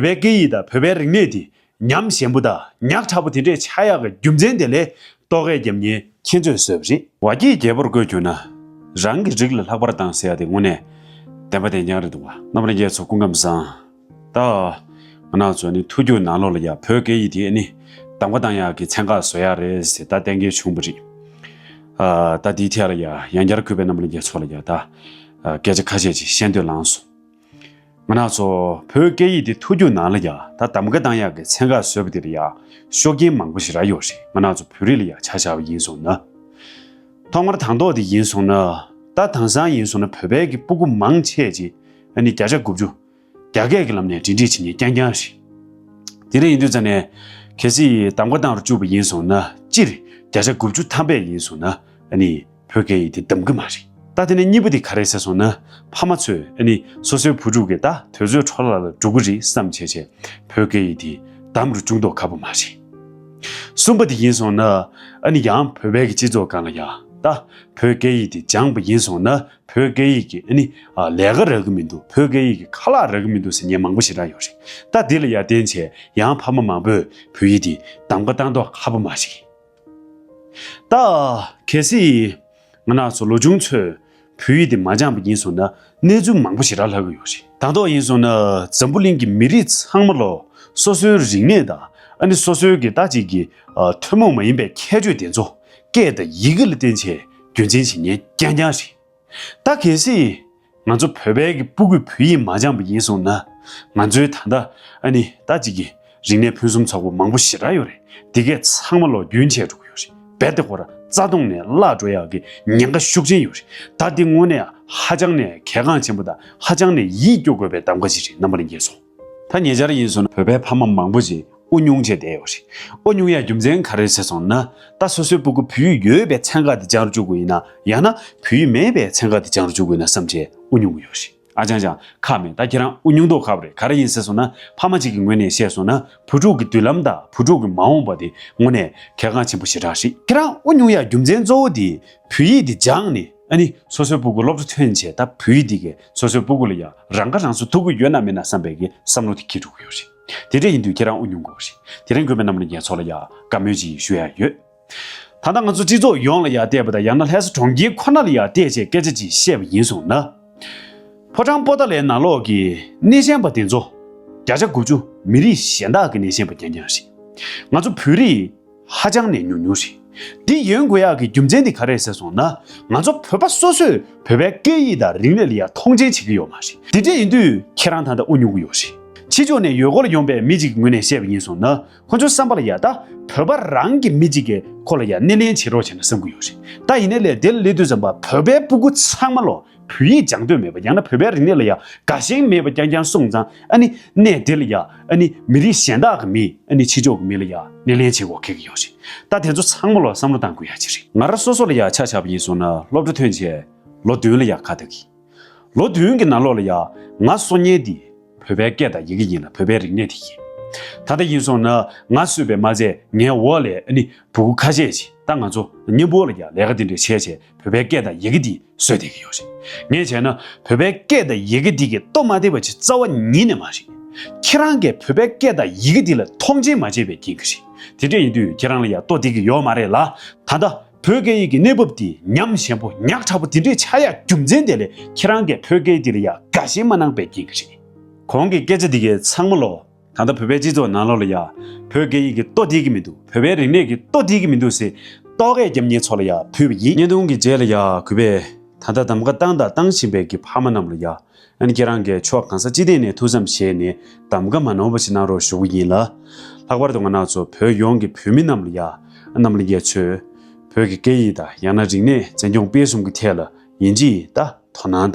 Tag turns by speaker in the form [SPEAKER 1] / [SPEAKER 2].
[SPEAKER 1] བོད་པའི་སྐད་ཡིག་དང་བོད་པའི་རིག་གནས་དེ་ཉམས་ཞན་པོ་དང་ཉག་ཕྲ་པོ་དེ་འདྲའི་ཆགས་ཡག་གི་རྒྱུ་མཚན་དེ་ལས་ལྟོ་གས་རྒྱབ་ཉལ་ཁྱེད་ཚོས་བཟོས་པ་རེད། བ་སྐྱེས་རྒྱལ་པོར་བཀོད་གྱུར་ན། རང་གི་རིགས་ལ་ལྷག་པར་སྡང་ཟེར་ཡ་དེ་དངོས་གནས་བདེན་པ་དེ་ཉག་རེད་འདུག་བ། རྣམ་རྒྱལ་ཚོ་སྐུ་ཁམས་བཟང། ད། ང་ནག་ཚོ་ནི་ཐུགས་རྒྱུད་ནག་ལོག་ལ་ཡ་བོད་སྐད་ཡིག་དེ་ནི་སྡང་བ་སྡང་ཡག་གི་ཚན་ཁག་བཟོ་ཡག་རེད་ཟེར་ད་གཏན་འཁེལ་བྱུང་བ་རེད། ད་དེའི་ཐད་ལ་ཡ་ཡང་བསྐྱར་གུས་པས་རྣམ་རྒྱལ་ཚོ་ལ་ཡ་ད་སྐད་ཆ་ཁ་ཤས་ཅིག་བཤད་འདོད་ལངས་སོང། མི་ནག་ཚོ། བོད་སྐད་ཡིག་འདི་ཐུགས་རྒྱུད་ནང་ལ་ཡང་ད་དམ་ག་གདང་ཡག་གི་ཚན་ཁག་བཟོས་པ་འདིར་ཡང་ཤོག་རྐྱེན་མང་པོ་ཞིག་རག་ཡོད་རེད་མི་ནག་ཚོ་བོད་རིགས་ལ་ཡང་ཆ་བཞག་པ་ཡིན་སོང་ན། ཐོག་མར་དང་ཐོག་དེ་ཡིན་སོང་ན། ད་དང་སང་ཡིན་སོང་ན་བོད་པའི་གི་སྤུ་གུ་མང་ཆེས་ཅིག་ཨ་ནི་བརྒྱ་ཆ་དགུ་བཅུ། རྒྱ་སྐད་གི་ལམ་ནས་འབྲེལ་འདྲིས་བྱེད་ཉེན་རྐྱང་རྐྱང་རེད། དེ་རིང་ཡིན་དུས་ཙམ་ནས་གལ་སྲིད་དམ་ག་གདང་རུ་བཅུག་པ་ཡིན་སོང་ན་སྤྱིར་བརྒྱ་ཆ་དགུ་བཅུ་ཐམ་པས་ཡིན་སོང་ན་ཨ་ནི། བོད་སྐད་ཡིག་དེ་འདམ་གི་མ་རེད། ད་དེ་ནས་གཉིས་པོ་དེ་ག་རེད་ཟེར་སོང་ན། ཕ་མ་ཚོས་ཨེ་ནི་སོ་སོའི་བུ་ཕྲུག་གིས་ད་དོལ་ཚོའི་འཕྲོ་བརླག་ལ་འགྲོ་གི་རེད་བསམ་བྱས་བྱས་བོད་སྐད་ཡིག་དེ་འདམ་རུ་བཅུག་མདོག་ཁ་པོ་མ་རེད། གསུམ་པ་དེ་ཡིན་སོང་ན། ཨེ་ནི་ཡང་བོད་པའི་གི་སྤྱི་ཚོགས་སྒང་ལ་ཡང་ད་བོད་སྐད་ཡིག་དེ་སྦྱངས་པ་ཡིན་སོང་ན་བོད་སྐད་ཡིག་གི་ཨེ་ནི་ལས་ཀ་རག་གི་མི་འདུག་བོད་སྐད་ཡིག་གི་ཁ་ལག་རག་གི་མི་འདུག་ཟེར་ཉན་མང་པོ་ཞེ་དྲག་ཡོད་རེད། ད་དེ་ལ་ཡར་བརྟེན་བྱས་ཡང་ཕ་མ་མང་པོས་བོད་ཡིག་དེ་འདམ་ཀ་བཏང་མདོག་ཁ་པོ་མ་རེད། ད། གལ་སྲིད། ང་ནགས་ཚོ་ལོ་ཆུང་ཚོས། བོད་ཡིག་དེ་མ་སྦྱངས་པ་ཡིན་སོང་ན། གནས་ཚུལ་མང་པོ་ཞིག་རག་ལྷག་གི་ཡོད་རེད། དང་ཐོག་ཡིན་སོང་ན། འཛམ་བུ་གླིང་གི་མི་རིགས་ཚང་མ་ལོ། སོ་སོའི་རིག་གནས་དང། ཨ་ནི་སོ་སོའི་གི་ད་ཅིག་གི། ཐུན་མོང་མ་ཡིན་པའི་ཁྱད་ཆོས་དེ་ཚོ། སྐད་དང་ཡི་གེ་ལ་བརྟེན་ཆེད་རྒྱུན་འཛིན་བྱེད་ཉན་རྐྱང་རྐྱང་རེད། ད་གལ་སྲིད། ང་ཚོ་བོད་པའི་གི་སྤུ་གུས་བོད་ཡིག་མ་སྦྱངས་པ་ཡིན་སོང་ན། ང་ཚོའི་ད་ལྟ་ཨ་ནི་ད་ཅིག་གི་རིག་གནས་ཕུན་སུམ་ཚོགས་པོ་མང་པོ་ཞེ་དྲག་ཡོད་རེད་འདི་གས་ཚང་མ་ལོག་རྒྱུན་ཆད་འགྲོ་གི་ཡོད་རེད་རྦད་དེ་ཁོ་ར་རྩ་སྟོང་ནས་བརླག་འགྲོ་ཡག་གི་ཉེན་ཁ་ཤུགས་ཆེན་ཡོད་རེད་ད་འདི་དངོས་གནས་ཧ་ཅང་ནས་གལ་འགངས་ཆེན་པོ་དང་ཧ་ཅང་ནས་ཡིད་སྐྱོ་དགོས་པའི་གདམ་ག་ཞིག་རེད་རྣམ་པ་ལ་འགྱེལ་སོང། ད་ཉེ་ཆར་ཡིན་སོང་བོད་པའི་ཕ་མ་མང་པོ་ཞིག་དབུ་སྙུང་བྱས་བསྡད་ཡོད་རེད། དབུ་སྙུང་ཡ་རྒྱུ་མཚན་ག་རེ་བྱས་སོང་ན། ད་སོ་སོའི་སྤུ་གུ་བུ་ཡུག་ཡོད་པའི་མཚན་ག་དེ་སྦྱང་རུ་འཇུག་གི་ཡིན་ན་ཡང་ན་བུ་ཡུག་མེད་པའི་མཚན་ག་དེ་སྦྱང་རུ་འཇུག་གི་ཡིན་ན་བསམ་བྱས་དབུ་སྙུང་གི་ཡོད་རེད། ཨ་ཅང་ཅང་ཁག་མེད་ད་ཁྱེད་རང་དབུ་སྙུང་དོག་ཁབ་རེད་ག་རེ་ཡིན་ཟེར་སོང་ན་ཕ་མ་གཅིག་གི་ངོས་ནས་བཤད་སོང་ན་བུ་ཕྲུག་གི་མདུན་ལམ་དང་བུ་ཕྲུག་གི་མ་འོངས་པ་དེ་དངོས་ནས་གལ་འགངས་ཆེན་པོ་ཞེ་དྲག་རེད། ཁྱེད་རང་དབུ་སྙུང་ཡ་རྒྱུ་མཚན་གཙོ་བོ་དེ་བུ་ཡིག་དེ་སྦྱངས་ནས། ཨ་ནི་སོ་སོའི་སྤུ་གུ་སློབ་གྲོགས་ཐོན་བྱས་ད་བུ་ཡིག་འདི་གས་སོ་སོའི་སྤུ་གུ་ལ་ཡང་རང་ཁ་རང་གསོ་ཐུབ་ཀི་ཡོད་ན་མེད་ན་བསམ་པའི་གི་བསམ་བློ་དེ་ཁྱི་དྲུག་ཡོད་རེད་དེ་འདྲ་ཡིན་དུས་ཁྱེད་རང་ཨུ་ཉུང་དགོས་རེད་དེ་རིང་དགོས་པའི་རྣམས་ལ་ངས་ཚོགས་ལ་ཡང་དགའ་མོས་ཅིག་ཞུ་ཡག་ཡོད་ད་ལྟ་ང་ཚོ་སྤྱི་ཚོགས་ཡོངས་ལ་ཡང་བལྟས་པ་དང་ཡང་ན་ལྷས་ས་གྲོང་ཁྱེར་ཁོ་ན་ལ་ཡང་བལྟས་བྱས་སྐད་ཆ་ཅིག་བཤད་པ་ཡིན་སོང་ན། ཕོ་བྲང་པོ་ཏཱ་ལའི་ནང་ལོགས་ཀྱི་སྣེ་ཤན་པ་དེ་ཚོ། བརྒྱ་ཆ་དགུ་བཅུ་མི་རིགས་གཞན་དག་གི་སྣེ་ཤན་པ་རྐྱང་རྐྱང་རེད། ང་ཚོ་བོད་རིགས། ཧ་ཅང་ནས་ཉུང་ཉུང་རེད། འདི་ཡོན་དགོས་ཡག་གི་རྒྱུ་མཚན་དེ་ག་རེད་ཟེར་སོང་ན། ང་ཚོ་བོད་པ་སོ་སོས་བོད་པའི་སྐད་ཡིག་དང་རིག་གནས་ལ་ཡང་མཐོང་ཆེན་བྱེད་ཀྱི་ཡོད་མ་རེད། དེ་འདྲ་ཡིན་དུས་ཁྱེད་རང་ད་ལྟ་དབུ་ཉོ་གི་ཡོད་རེད། ཕྱི་ཕྱོགས་ནས་ཡོད་སྐོར་ཡོང་པའི་མི་ཅིག་ངོས་ནས་བཤད་པ་ཡིན་སོང་ན་ཁོ་ཚོའི་བསམ་པ་ལ་ཡག་ད་བོད་པ་རང་གི་མི་ཅིག་གི་ཁོ་ལ་ཡང་སྣེ་ལེན་བྱེད་རོགས་བྱས་ན་བསམ་གི་ཡོད་རེད་ད་ཡིན་ན་ལས་དེ་ལ་ལས་དུས་ཙམ་བར་བོད་པའི་སྤུ་གུ་ཚང་མ་ལོ། བོད་ཡིག་སྦྱང་འདོད་མེད་པ་ཡང་ན་བོད་པའི་རིག་གནས་ལ་ཡ་དགའ་ཞེན་མེད་པ་རྐྱང་རྐྱང་གསུངས་ཙང་ཨ་ནི་གནས་དེ་ལ་ཡ་ཨ་ནི་མི་རིགས་གཞན་དག་གི་མི་ཨ་ནི་ཕྱི་ཕྱོགས་ཀྱི་མི་ལ་ཡ་སྣེ་ལེན་བྱེད་འོ་ཁེག་གི་ཡོད་རེད་ད་དེ་ཚོ་ཚང་མ་ལ་བསམ་བློ་བཏང་དགོས་ཡ་ཅི་རེད། ང་ར་སོ་སོ་ལ་ཡ་ཆ་ཆ་པ་ཡིན་སོང་ན་སློབ་གྲ་ཐོན་བྱས་ལོ་བདུན་ལ་ཡ་ཁ་ཐག་གིས་ལོ་བདུན་གི་ནང་ལོག་ལ་ཡ་ང་སོ་ཉལ་དེ་བོད་པའི་སྐད་དང་ཡི་གེ་ཡིན་ལ་བོད་པའི་རིག་གནས་དེ་ཡིན་ད་ལྟ་ཡིན་སོང་ན་ང་གསོད་པའི་མ་ཚད་ངའི་འོ་ལས་ཨ་ནི་བུ་གུ་ཁ་ཤས་ཀྱིས་ད་ང་ཚོ་གཉེན་པོ་ལ་ཡ་ལས་ཀ་དེ་འདྲས་བྱས་བྱས་བོད་པའི་སྐད་དང་ཡི་གེ་འདི་སོས་བསྡད་ཀྱི་ཡོད་རེད། ངས་བྱས་ན་བོད་པའི་སྐད་དང་ཡི་གེ་འདི་གི་སྟོབས་མ་བརྟན་པ་ཆེས་རྩ་བ་ཉིད་ནས་མ་རེད། ཁྱེད་རང་གིས་བོད་པའི་སྐད་དང་ཡི་གེ་འདི་ལ་མཐོང་ཆེན་མ་བྱས་པའི་རྐྱེན་གྱིས་རེད། དེ་འདྲ་ཡིན་དུས་ཁྱེད་རང་ལ་ཡང་སྟོབས་བསྡད་ཀྱི་ཡོད་མ་རེད་ལ། ད་ལྟ་བོད་སྐད་ཡིག་གི་གནས་བབ་འདི་ཉམས་ཞན་པོ་ཉག་ཕྲ་པོ་འདི་འདྲའི་ཆགས་ཡ་རྒྱུ་མཚན་དེ་ལས་ཁྱེད་རང་གིས་བོད་སྐད་འདི་ལ་ཡང་དགའ་ཞེན་མ་གནང་པའི་རྐྱེན་གྱིས་རེད། གོང་གི་སྐད་ཆ་འདི་གའི་ཚང་མ་ལོག་ད་ལྟ་བོད་པའི་སྤྱི་ཚོགས་ནང་ལོགས་ལ་ཡ། བོད་སྐད་ཡིག་གི་ལྟོ་བསྡིག་གི་མི་འདུག་བོད་པའི་རིག་གནས་ཀྱི་ལྟོ་བསྡིག་གི་མི་འདུག་ཟེར། ལྟོ་གས་རྒྱབ་ཉེས་ཚོགས་ལ་ཡ་ཕུལ་བ་ཡིན། བརྙན་ཐུང་གི་རྗེས་ལ་ཡ་གུས་པས། ད་ལྟ་གདམ་ཀ་བཏང་དང་བཏང་བཞིན་པའི་གི་ཕ་མ་རྣམས་ལ་ཡ། ཨན་ཁྱེད་རང་གས་ཕྱོགས་གང་ས་ཅི་སྟེང་ནས་ཐུགས་བསམ་བཞེས་ནས་གདམ་ཀ་མ་ནོར་བ་ཞིག་གནང་རོགས་ཞུ་གི་ཡིན་ལ། ལྷག་པར་དུ་ང་ནག་ཚོ་བོད་ཡོངས་ཀྱི་བོད་མི་རྣམས་ལ་ཡ། ཨ་རྣམ་ལ་ཡས་ཚོས། བོད་ཀྱི་སྐད་ཡིག་དང་ཡང་ན་རིག་གནས་བཙན་སྐྱོང་སྤེལ་གསུམ་གྱི་ཐད་ལ་ཡིན་ཇི་ཡིན་ལྟ་དོ་སྣང་དང།